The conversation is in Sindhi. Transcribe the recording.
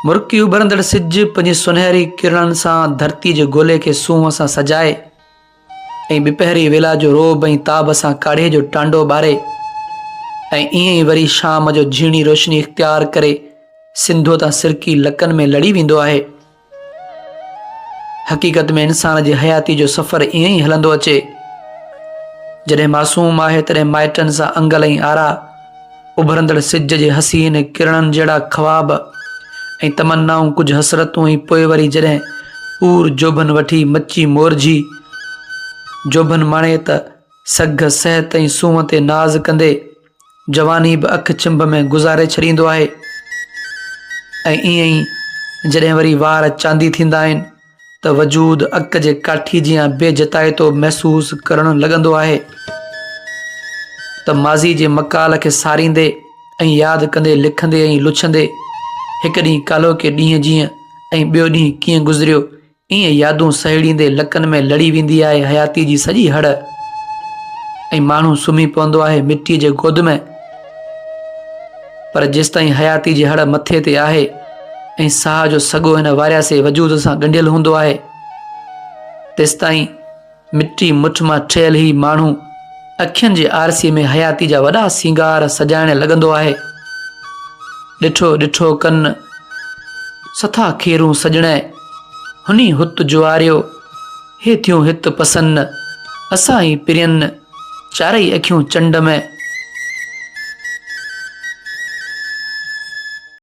مرڪي اڀرندڙ سج پنهنجي سنهري ڪرڻن سان ڌرتي جي گولي کي سونهن سان سجائي ۽ ٻپهري ويلا جو روب ۽ تاب سان ڪاڙهي جو ٽانڊو ٻاري ۽ ائين ئي وري شام جو جهيڻي روشني اختيار ڪري سنڌوء تان سرڪي لڪن ۾ لڙي ويندو آهي حقيقت ۾ انسان جي حياتي جو سفر ائين ئي هلندو اچي. جڏهن معصوم آهي تڏهن مائٽن سان انگل ۽ آرا، اڀرندڙ سج جي حسين ڪرڻن جهڙا خواب ۽ تمنائون ڪجهه حسرتون ۽ پوء وري جڏهن پور جوڀن وٺي مچي مورجهي جوڀن مڻي ته سگهه صحت ۽ سونهن تي ناز ڪندي جواني به اک چنب ۾ گذاري ڇڏيندو آهي ۽ ائين ئي جڏهن وري وار چاندي ٿيندا آهن ته وجود اک جي ڪاٺي جيان بي جتائتو محسوس ڪرڻ لڳندو آهي ته ماضي جي مڪال کي ساريندي ۽ ياد ڪندي لکندي ۽ لڇندي هڪ ڏينهن ڪالهوڪي ڏينهن جيئن ۽ ٻيو ڏينهن ڪيئن گذريو ائين يادون سهيڙيندي لڪن ۾ لڙي ويندي آهي حياتيء جي سڄي هڙ ۽ ماڻهو سمهي پوندو آهي مٽيء جي گود ۾، پر جيستائين حياتيء جي هڙ مٿي تي آهي ۽ ساهه جو سڳو هن وارياسي وجود سان ڳنڍيل هوندو آهي، تيستائين مٽي مٺ مان ٺهيل هي ماڻهو اکين جي آرسي ۾ حياتي جا وڏا سينگار سجائڻ لڳندو آهي. ڏٺو ڏٺو ڪن سٿا کيرون سڄڻئ، هني هت جواريو، هي ٿيون هت پسن، اسان ئي پرين، چارئي اکيون چنڊ ۾.